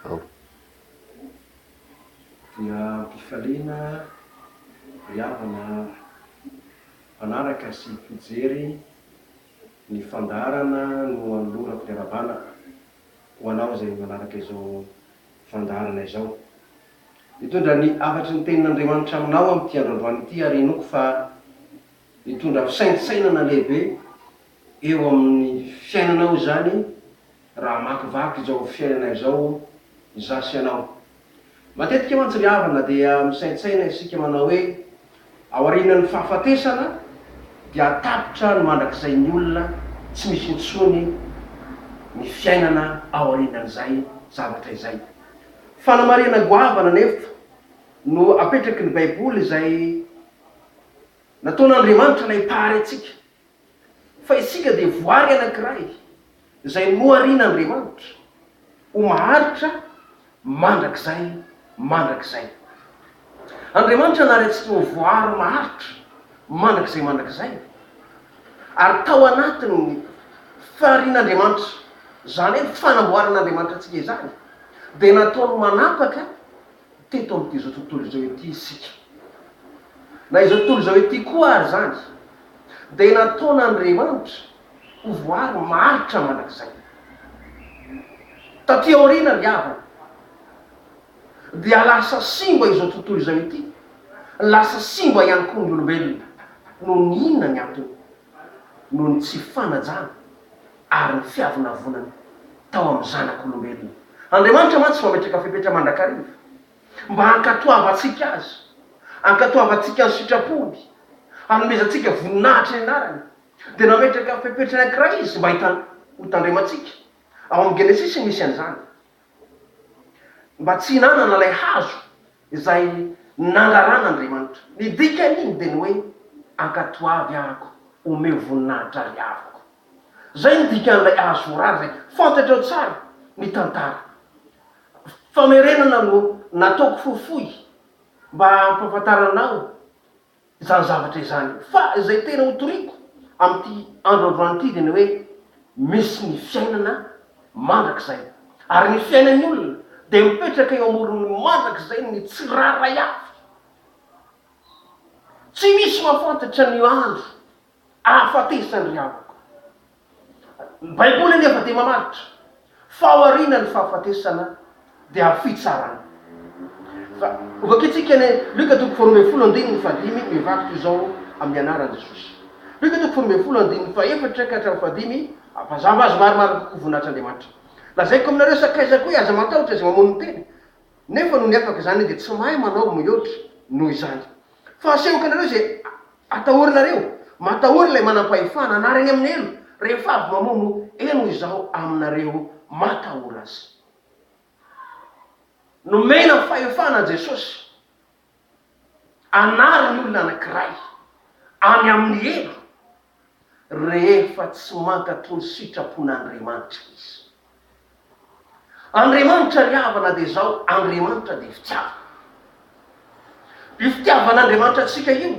ao. Dia ampifaliana ry havana mpanaraka sy mpijery ny fandaharana no anolorako ny ravana ho anao izay manaraka izao fandaharana izao. Mitondra ny hafatry ny tenin'Andriamanitra aminao amin'ity androandroany ity ary inoako fa Mitondra fisaintsainana lehibe eo amin'ny fiainanao izany raha hamakivaky izao fiainana izao izaho sy ianao. Matetika mantsy ry havana dia misaintsaina isika manao hoe, aorianan'ny fahafatesana dia tapitra ny mandrakizain'ny olona, tsy misy intsony ny fiainana aorianan'izay zavatra izay. Fanamarihana goavana anefa no apetraky ny Baiboly izay Nataon'Andriamanitra ny Mpahary antsika, fa isika dia voary anankiray izay noharian'Andriamanitra ho maharitra mandrakizay mandrakizay. Andriamanitra nahary antsika ho voary maharitra mandrakizay mandrakizay, ary tao anatin'ny faharian'Andriamanitra, izany hoe ny fanamboaran'Andriamanitra antsika izany, dia nataony manapaka teto amin'ity izao tontolo izao ity isika. Na izao tontolo izao ity koa ary izany dia nataon'Andriamanitra ho voary maharitra mandrakizay. Taty aoriana ry havana dia lasa simba izao tontolo izao ity, lasa simba ihany koa ny olombelona. Noho ny inona ny antony? noho ny tsy fanajana ary ny fiavonavonana tao amin'ny zanak'olombelona. Andriamanitra mantsy mametraka fepetra mandrakariva mba hankatoavantsika Azy, hankatoavantsika ny sitrapony, hanomezantsika voninahitra ny anarany. Dia nametraka fepetra anankiray Izy mba hotandremantsika. Ao amin'ny Genesisy no misy an'izany. Mba tsy hihinanana ilay hazo izay nangaran'Andriamanitra. Ny dikan'iny dia ny hoe ankatoavy ahako, omeo voninahitra ry havako. Izay no dikan'ilay Azourah izay fantatrao tsara ny tantara. Famerenana no nataoko fohifohy mba hampafantaranao. izany zavatra izany io. Fa izay tena ho toriako amin'ity andro androany ity dia ny hoe misy ny fiainana mandrakizay. Ary ny fiainan'ny olona dia mipetraka eo amoron'ny mandrakizay ny tsirairay avy. Tsy misy mahafantatra ny andro Ahafatesany ry havako. Ny Baiboly anefa dia mamaritra fa aoriana ny fahafatesana dia fitsarana. Fa hovakintsika ny Lioka toko faharoa ambin'ny folo andininy fahadimy mivadika izao amin'ny anaran'i Jesosy. Lioka toko faharoa ambin'ny folo andininy fahaefatra ka hatramin'ny fahadimy, Mazava azy marimarina kokoa voninahitr'Andriamanitra. Lazaiko aminareo sakaiza koa hoe aza matahotra izay mamono ny tena, nefa noho ny afaka izany dia tsy mahay manao mihoatra noho izany. Fa asehoko anareo izay Atahorinareo, matahory ilay manam-pahefana, anary any amin'ny helo, rehefa avy mamono helo izaho aminareo, matahory azy. Nomena fahefana Jesosy, anary ny olona anankiray, any amin'ny helo, rehefa tsy mankatò ny sitrapon'Andriamanitra izy. Andriamanitra ry havana dia izao, Andriamanitra dia fitiavana. Io fitiavan'Andriamanitra antsika io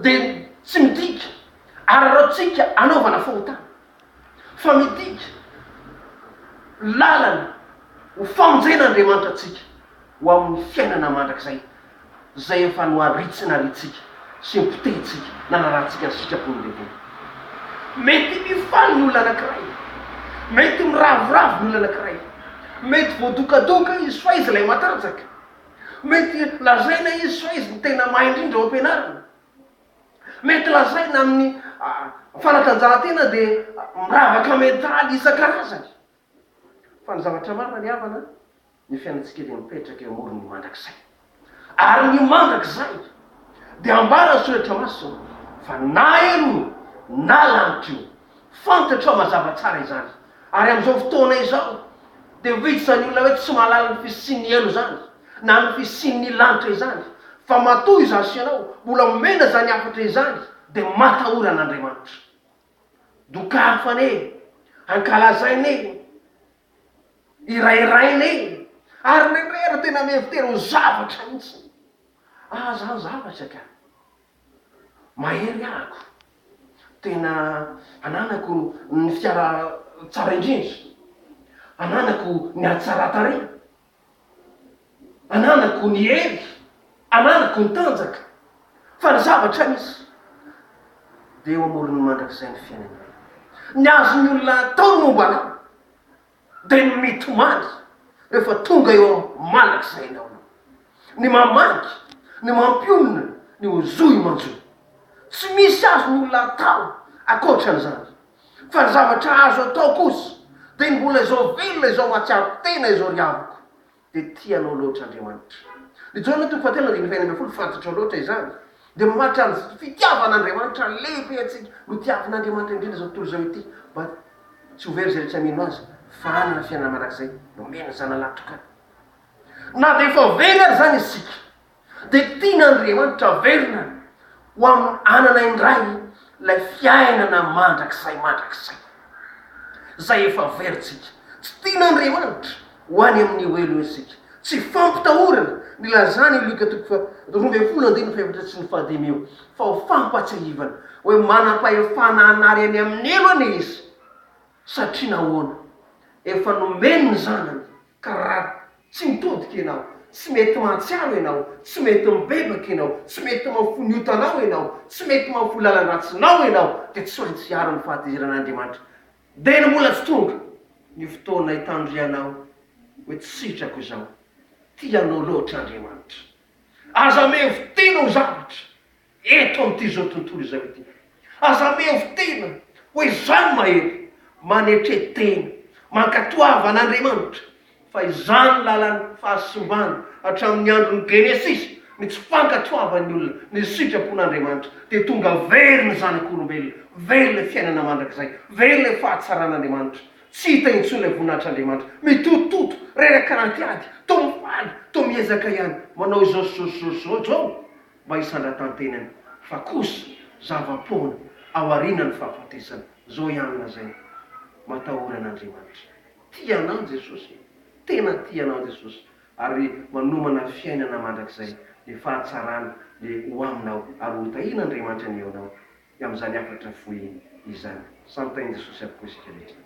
dia tsy midika araraotintsika anaovana fahotana, fa midika lalana ho famonjena Andriamanitra antsika. ho amin'ny fiainana mandrakizay, izay efa noharitsinaritsika sy nopotehintsika nanarahantsika ny sitrapon'ny Baiboly. Mety mifaly ny olona anankiray. Mety miravoravo ny olona anankiray. Mety voadokadoka izy fa izy ilay matanjaka. Mety lazaina izy fa izy no tena mahay indrindra ao am-pianarana. Mety lazaina amin'ny fanatanjahantena dia miravaka medaly isan-karazany. Fa ny zavatra marina ry havana an, ny fiainantsika dia mipetraka eo amoron'ny mandrakizay. Ary ny mandrakizay dia ambaran'ny soratra masina fa na elo io na lanitra io. Fantatrao mazava tsara izany. Ary amin'izao fotoana izao dia vitsy izany olona hoe tsy mahalala ny fisian'ny elo izany na ny fisian'ny lanitra izany. Fa matoa izaho sy ianao mbola omena izany hafatra izany dia matahora an'Andriamanitra. Dokafana e! Ankalazaina e! Irahiraina e! Ary indraindray ary tena mihevitera ho zavatra mihitsy. Aah zany zavatra ka! Mahery ahako. Tena ananako ny fiara tsara indrindra. Ananako ny hatsaratarehy. Ananako ny hery, ananako ny tanjaka, fa ny zavatra misy dia eo amoron'ny mandrakizay ny fiainana. Ny azon'ny olona atao momba anao dia ny mitomany rehefa tonga eo amin'ny mandrakizay ny aonao, ny mamangy, ny mampionona, ny ho zohy manjo. Tsy misy azon'ny olona atao ankoatra an'izany. Fa ny zavatra azo atao kosa dia ny mbola izao velona izao mahatsiaro tena izao ry havako dia tia anao loatra Andriamanitra. Ny Jaona toko fahatelo andininy fahenina ambin'ny folo fantatrao loatra izany dia mamaritra ny fitiavana Andriamanitra lehibe antsika. Notiavin' Andriamanitra indrindra izao tontolo izao ity mba tsy ho very izay tsy hamino Azy fa hanana fiainana mandrakizay nomeny Zanany lahy tokana. Na dia efa very ary izany isika. dia tian'Andriamanitra averina ho amin'ny anana indray ilay fiainana mandrakizay mandrakizay, izay efa averintsika. Tsy tian'Andriamanitra ho any amin'ny ho elo isika. Tsy fampitahorana ny ilazana io Lioka toko faharoa ambin'ny folo andininy fahaefatra sy ny fahadimy io, fa ho fampahatsiahivana hoe manam-pahefana hanary any amin'ny elo anie Izy. Satria nahoana? Efa nomeny ny Zanany Ka raha tsy mitodika ianao, tsy mety mahatsiaro ianao, tsy mety mibebaka ianao, tsy mety mahafoy ny otanao ianao, tsy mety mahafoy lalan-dratsinao ianao, dia tsy maintsy hiaro ny fahatezeran'Andriamanitra. Dia ny mbola tsy tonga ny fotoana hitandrianao hoe tsy sitrako izao. Tia anao loatra Andriamanitra. Aza mihevitena ho zavatra. Eto amin'ity izao tontolo izao ity. Aza mihevo tena ho izany mahery. Manetre tena, mankatoava an'Andriamanitra, fa izany lalan'ny fahasimbana hatramin'ny andron'ny Genesisy ny tsy fankatoavan'ny olona ny sitrapon'Andriamanitra, dia tonga very ny zanak'olombelona, very ilay fiainana mandrakizay, very ilay fahatsaran'Andriamanitra. Tsy hita intsony ilay voninahitr'Andriamanitra. Mitotototo, reraka anaty ady, toa mifaly, toa miezaka ihany manao izao sy izao sy izao sy izao. mba hisandratan-tenany, fa kosa zava-poana ao aorianan'ny fahafatesana. Zao ihany lazainy, Matahora an'Andriamanitra. Tia anao Jesosy e! Tena tia anao Jesosy ary manomana fiainana mandrakizay le fahatsarana le ho aminao ary ho tahin' Andriamanitra ny eonao amin'izany hafatra fohy izany. Samy tahin'i Jesosy avokoa isika rehetra.